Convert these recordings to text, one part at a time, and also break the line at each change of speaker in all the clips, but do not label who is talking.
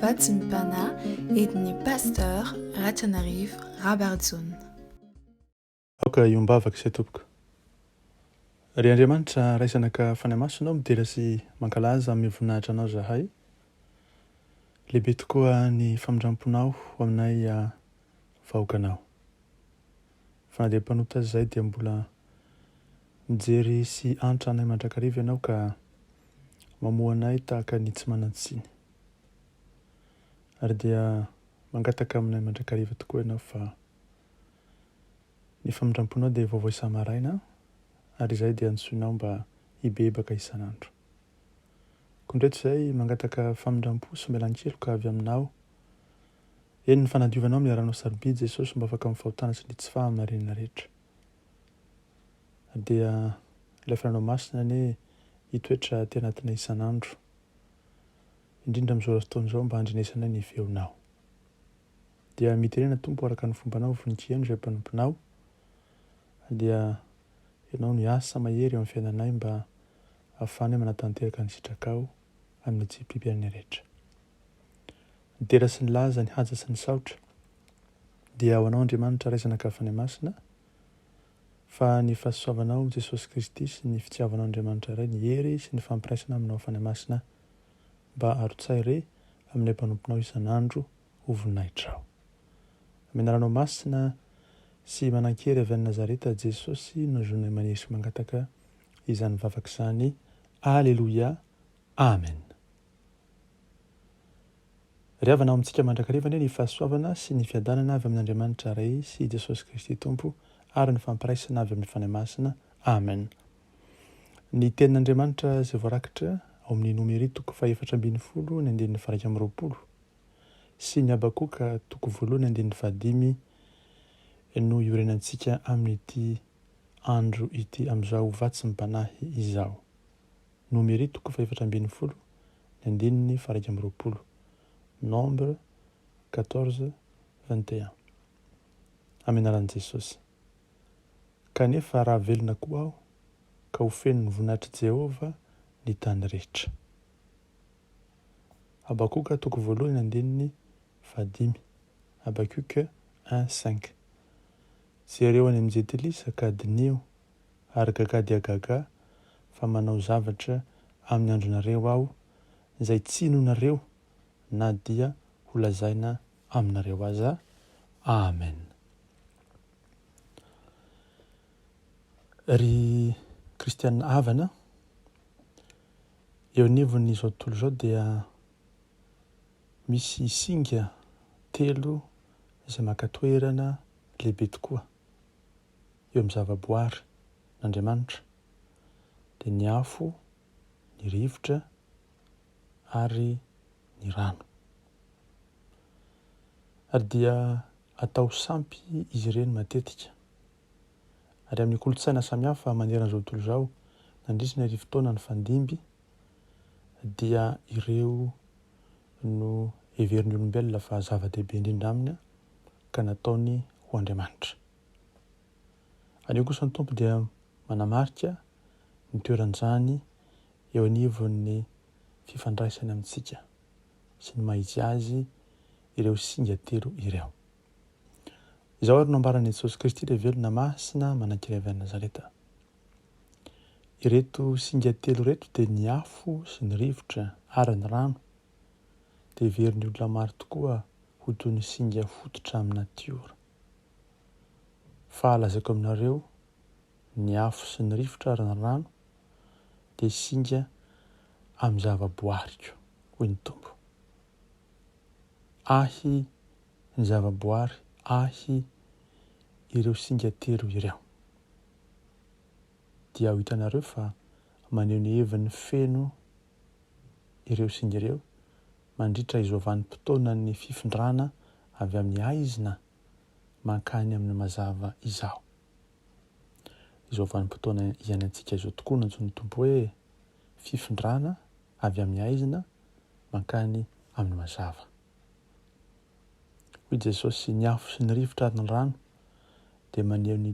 Vatsy ny Pana, edin'ny Pasteur Ratranarivo Rabarijaona.
Aoka hiombavaka isay tompoko. Ry Andriamanitra Ray Zanaka Fanahy Masina ô midera sy mankalaza amin'ny voninahitra Anao zahay. Lehibe tokoa ny famindramponao ho aminay vahoakanao. Fa na dia mpanota aza izay dia mbola mijery sy antra anay mandrakariva ianao ka mamoha anay tahaka ny tsy manan-tsiny. Ary dia mangataka aminay mandrakariva tokoa ianao fa ny famindram-ponao dia vaovao isa-maraina ary izay dia antsoinao mba hibebaka isan'andro. Koa indray tsy izay mangataka famindram-po sy melan-keloka avy aminao Eny ny fanadiovanao miaranao sarobidy Jesosy mba afaka amin'ny fahotana sy ny tsy fahamarinana rehetra dia ilay fananao masina anie hitoetra aty anatinay isan'andro indrindra amin'izao fotoana izao mba handrenesanay ny feonao dia miterena tompo araka ny fombanao voninkieno izay mpanomponao dia ianao no hiasa mahery eo amin'ny fiainanay mba ahafahanay manatanteraka ny sitrakao amin'ny tsipipirany rehetra. Ny dera sy ny laza, ny haja sy ny saotra dia ho anao Andriamanitra ray Zanaka Fanahy Masina fa ny fahasoavanao amin'i Jesosy Kristy sy ny fitiavanao Andriamanitra Ray, ny hery sy ny fampiraisana aminao Fanahy Masina mba arotsahy re amin'ilay mpanomponao isan'andro ho voninahitrao. Amin'ny anaranao masina sy manankery avy any Nazareta Jesosy no zonay manery sy mangataka izany vavaka izany Aleloia Amen Ry havana ao amintsika mandrakariva anie ny fahasoavana sy ny fiadanana avy amin'Andriamanitra Ray sy Jesosy Kristy Tompo ary ny fampiraisana avy amin'ny Fanahy Masina Amen Ny tenin'Andriamanitra izay voarakitra ao amin'ny Nomery toko fahefatra ambin'ny folo ny andininy faharaika amby roapolo sy ny Habakoka toko voalohany andininy fahadimy no iorenantsika amin'ity andro ity amin'izao ho vatsy ny mpanahy izao. Nomery toko fahefatra ambin'ny folo ny andininy faharaika amby roapolo, Nombre quatorze vingt et un, amin'ny anaran'i Jesosy. Kanefa raha velona koa aho, ka ho fenon'ny voninahitr'i Jehovah ny tany rehetra. Habakoka toko voalohany andininy fahadimy, Habacuc un cinq. Jereo any amin'ny Jentilisa ka diniho, ary gagà dia gagà, fa manao zavatra amin'ny andronareo Aho, izay tsy inoanareo na dia holazaina aminareo aza. Amen. Ry Kristiana havana, eo anivon'izao tontolo izao dia misy singa telo izay maka toerana lehibe tokoa eo amin'ny zavaboary n'Andriamanitra dia ny afo, ny rivotra ary ny rano. Ary dia atao sampy izy ireny matetika. Ary amin'ny kolontsaina samihafa manerana izao tontolo izao, nandritra ny arivo taona nifandimby dia ireo no heverin'ny olombelona fa zava-dehibe indrindra aminy ka nataony ho Andriamanitra. Anio kosa ny Tompo dia manamarika ny toeran'izany eo anivon'ny fifandraisany amintsika sy ny maha-izy azy ireo singa telo ireo. Izao ary no ambaran'i Jesosy Kristy ilay velona masina manankiray avy any Nazareta. Ireto singa telo ireto dia ny afo sy ny rivotra ary ny rano dia heverin'ny olona maro tokoa ho toy ny singa fototra amin'ny natiora. Fa lazaiko aminareo, ny afo sy ny rivotra ary ny rano dia singa amin'ny zavaboariko, hoy ny Tompo. Ahy ny zavaboary, ahy ireo singa telo ireo. dia ho hitanareo fa maneho ny heviny feno ireo singa ireo mandritra izao vanim-potoanan'ny fifindrana avy amin'ny haizina mankany amin'ny mazava izao. Izao vanim-potoana iainantsika izao tokoa nantsoin'ny Tompo hoe fifindrana avy amin'ny haizina mankany amin'ny mazava. Hoy Jesosy, ny afo sy ny rivotra ary ny rano dia maneho ny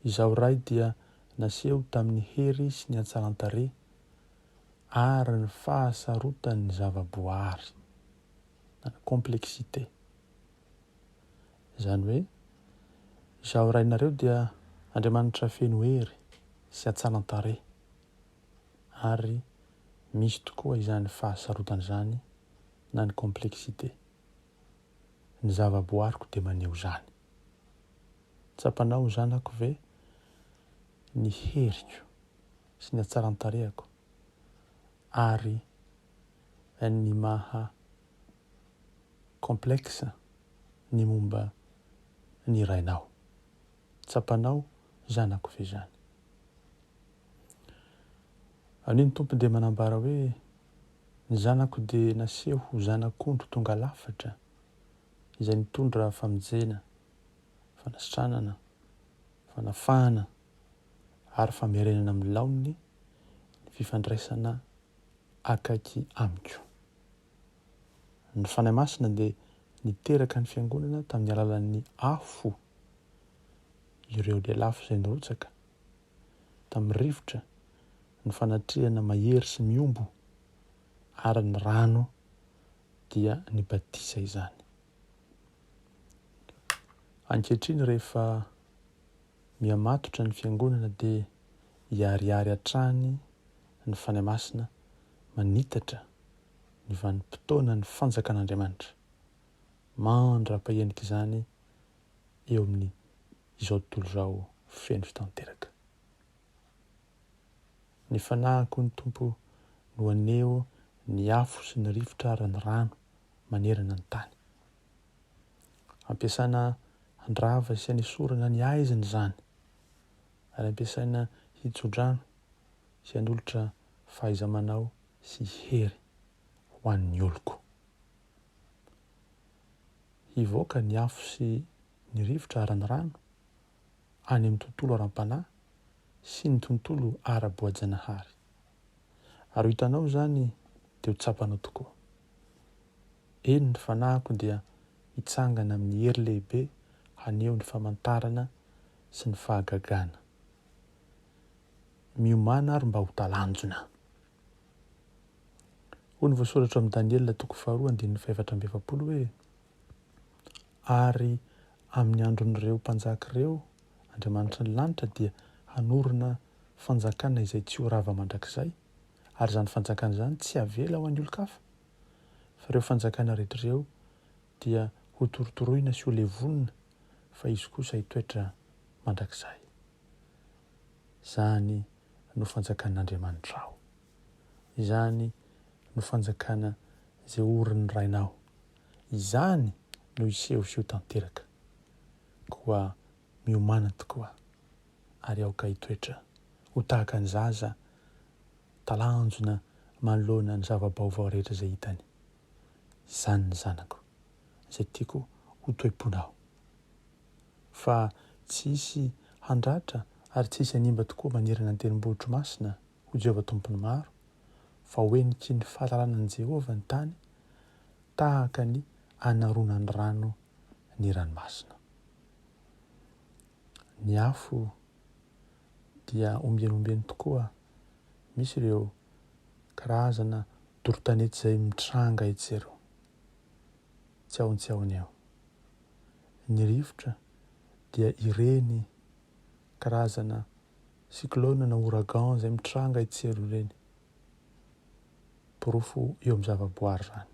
Izaho Ray dia naseho tamin'ny hery sy ny hatsaran-tarehy ary ny fahasarotan'ny zava-boaary, na complexité. Izany hoe, Izaho Rainareo dia Andriamanitra feno hery sy hatsaran-tarehy, ary misy tokoa izany fahasarotana izany, na ny complexité. Ny zava-boaariko dia maneho izany. Tsapanao zanako ve ny heriko sy ny hatsaran-tarehako ary ny maha complexe ny momba ny rainao? Tsapanao zanako ve izany? Anio ny Tompo dia manambara hoe, Ny zanako dia naseho ho zanak'ondry tonga lafatra, izay nitondra famonjena. fanasitranana, fanafahana ary famerenana amin'ny laoniny ny fifandraisana akaiky Amiko. Ny Fanahy Masina dia niteraka ny Fiangonana tamin'ny alalan'ny afo ireo lelafo izay nirotsaka tamin'ny rivotra ny fanatrehana mahery sy miombo ary ny rano dia ny batisa izany. Ankehitriny rehefa mihamatotra ny Fiangonana dia hiharihary hatrany ny Fanahy Masina manitatra ny vanim-potoana ny Fanjakan'Andriamanitra. Mandra-pahenika izany eo amin' izao tontolo izao feno fitanteraka. Ny Fanahiko ny Tompo no haneho ny afo sy ny rivotra ary ny rano manerana ny tany. Ampiasaina handrava sy hanesorana ny haizina izany, ary ampiasaina hitso-drano sy hanolotra fahaiza-manao sy hery ho an'ny oloko. Hivoaka ny afo sy ny rivotra ara-ny rano any amin'ny tontolo ara-panahy sy ny tontolo ara-boajanahary. Ary ho hitanao izany dia ho tsapanao tokoa. Eny, ny fanahiko dia hitsangana amin'ny hery lehibe haneho ny famantarana sy ny fahagagana. Miomàna ary mba ho talanjona. Hoy ny voasoratra ao amin'ny Daniela toko faharoa andininy fahefatra amby efapolo hoe, Ary amin'ny andron'ireo mpanjaka ireo Andriamanitry ny lanitra dia hanorina fanjakana izay tsy ho rava mandrakizay, ary izany fanjakana izany tsy havela ho an'ny olon-kafa, fa ireo fanjakana rehetra ireo dia hotorotoroina sy holevonina, fa izy kosa hitoetra mandrakizay. Izany no fanjakan'Andriamanitrao. Izany no fanjakana izay orin'ny Rainao. Izany no hiseho sy ho tanteraka. Koa miomàna tokoa, ary aoka hitoetra ho tahaka ny zaza talanjona manoloana ny zava-baovao rehetra izay hitany. Izany ny zanako, izay tiako ho toe-ponao. Fa tsy hisy handratra ary tsy hisy hanimba tokoa manerana ny tendrombohitro masina, hoy Jehovah Tompon'ny maro, fa ho heniky ny fahalalana an'i Jehovah ny tany, tahaka ny anaronan'ny rano ny ranomasina. Ny afo dia ombieny ombieny tokoa. Misy ireo karazana dorotanety izay mitranga etsy ireo. Tsy ao tsy ao ny ao. Ny rivotra dia ireny karazana cyclone na ouragan izay mitranga etsy ireo ireny. porofo eo amin'ny zavaboary izany.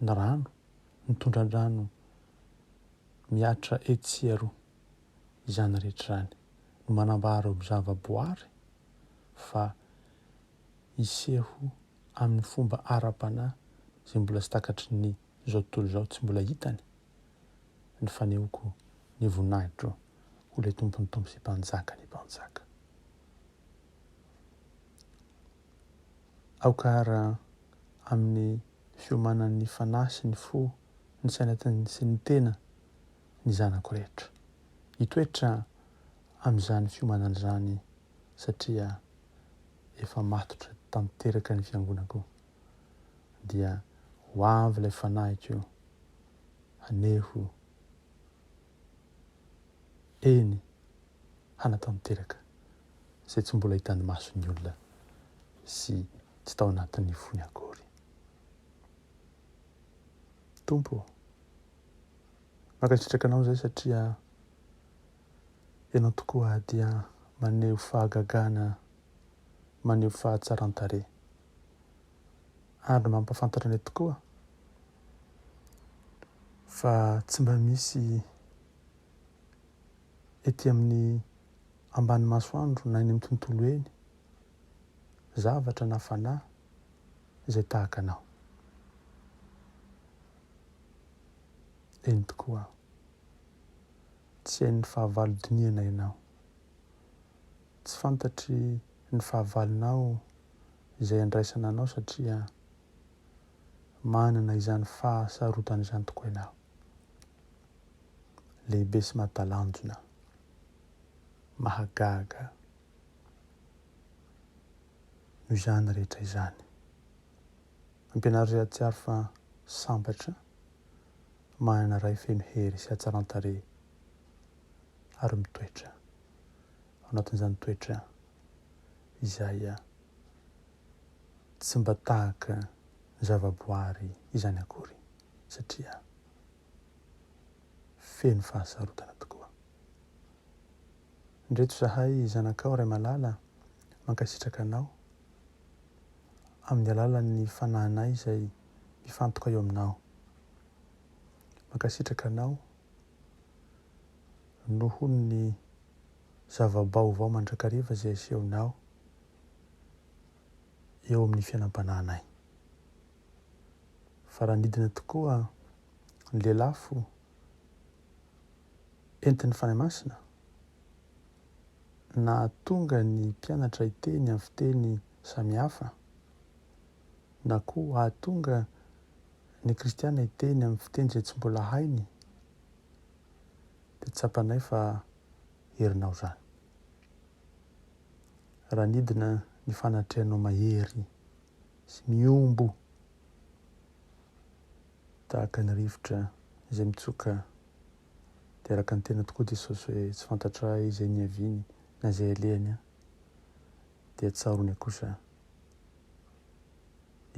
Ny rano, ny tondran-drano mihatra etsy sy eroa, izany rehetra izany no manambara ireo zavaboary fa hiseho amin'ny fomba ara-panahy izay mbola tsy takatry ny izao tontolo izao tsy mbola hitany ny fanehoako ny voninahitro ho ilay tompon'ny tompo sy mpanjaka ny mpanjaka. Aoka ara amin'ny fiomanan'ny fanahy sy ny fo, ny saina sy ny tena ny zanako rehetra. Hitoetra amin'izany fiomanana izany satria efa matotra tanteraka ny fiangonako. Dia ho avy ilay fanahiko haneho Eny, hanatanteraka izay tsy mbola hitan'ny mason'ny olona sy tsy tao anatin'ny fony akory. Tompo ô, mankasitraka Anao izay satria Ianao tokoa dia maneho fahagagana, maneho fahatsaran-tarehy. andro mampahafantatra anay tokoa fa tsy mba misy ety amin'ny ambany masoandro na eny amin'ny tontolo eny zavatra na fanahy izay tahaka anao. Eny tokoa aho. Tsy hain'ny fahavalo dinihanay ianao. Tsy fantatry ny fahavalonao izay andraisana anao satria manana izany fahasarotana izany tokoa ianao. Lehibe sy mahatalanjona. Mahagaga. Noho izany rehetra izany. Ampianaro izay hahatsiaro fa sambatra, manana Ray feno hery sy hatsaran-tarehy ary mitoetra ao anatin'izany toetra izay tsy mba tahaka ny zavaboary izany akory satria feno fahasarotana tokoa. Ndreto zahay zanakao Ray Malala mankasitraka anao amin'ny alalan'ny fanahinay izay mifantoka eo aminao. Mankasitraka anao noho ny zava-baovao mandrakariva izay asehonao eo amin'ny fiainam-panahinay. Fa raha nidina tokoa ny lelafo entin'ny Fanahy Masina, nahatonga ny mpianatra hiteny amin'ny fiteny samihafa, na koa hahatonga ny kristiana hiteny amin'ny fiteny izay tsy mbola hainy dia tsapanay fa herinao izany. Raha nidina ny fanatrehanao mahery sy mihombo tahaka ny rivotra izay mitsoka dia araka ny tena tokoa Jesosy hoe tsy fantatray izay niaviany na izay alehany an. dia tsaroany kosa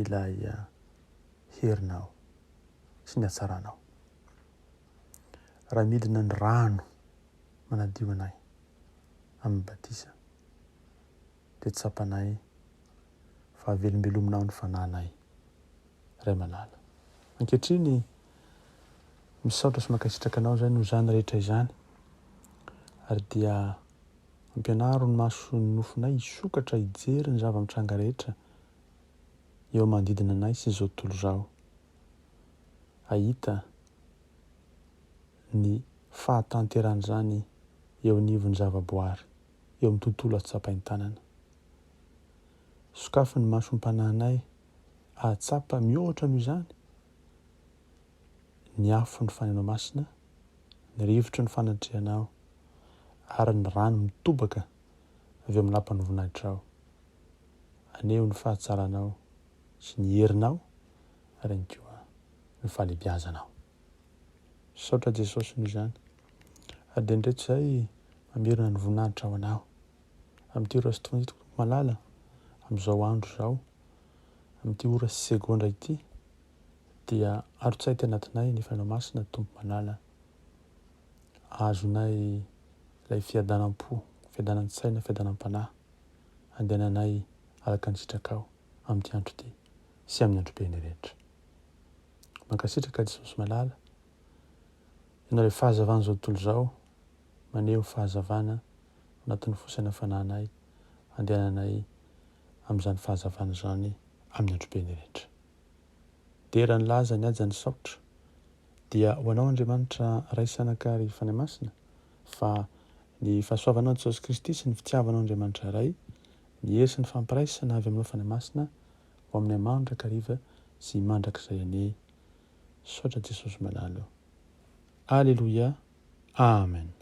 ilay ah, herinao sy ny hatsaranao. Raha midina ny rano manadio anay amin'ny batisa, dia tsapanay fa avelombelominao ny fanahinay, Ray malala. Ankehitriny, misaotra sy mankasitraka anao izay noho izany rehetra izany, ary dia. Ampianaro ny maso sy ny nofonay hisokatra hijery ny zava-mitranga rehetra eo manodidina anay sy izao tontolo izao. Hahita ny fahatanteran'izany eo anivon'ny zavaboary, eo amin'ny tontolo azo tsapain-tanana. Sokafy ny masom-panahinay hahatsapa mihoatra noho izany ny afo ny faneno masina, ny rivotry ny fanatrehana aho, ary ny rano mitobaka avy amin'ny lapan'ny voninahitrao. Aneho ny fahatsaranao sy ny herinao ary ihany koa ny fahalebiazanao. Saotra Jesosy noho izany. Ary dia indreto izay mamerina ny voninahitra ho anao. Amin'ity ora sy tokony malala, amin'izao andro izao, amin'ity ora sy segondra ity, dia arotsay tao anatinay ny Fanahy Masina, Tompo Malala. Azonay ilay fiadanam-po, fiadanan-tsaina, fiadanam-panahy, handehananay araka ny sitrakao amin'ity andro ity sy amin'ny andro beny rehetra. Mankasitraka Jesosy Malala, ianao ilay fahazavan'izao tontolo izao, maneho fahazavana anatin'ny fosana fananay, andehananay amin'izany fahazavana izany amin'ny androbeny rehetra. Dera ny laza ny haja ny saotra dia ho anao Andriamanitra Ray sy Anaka ary Fanahy Masina fa ny fahasoavanao an'i Jesosy Kristy sy ny fitiavanao Andriamanitra Ray ny hery sy ny fampiraisana avy aminao Fanahy Masina ho aminay mandrakariva sy mandrakizay anie Misaotra Jesosy Malala o Aleloia Amen.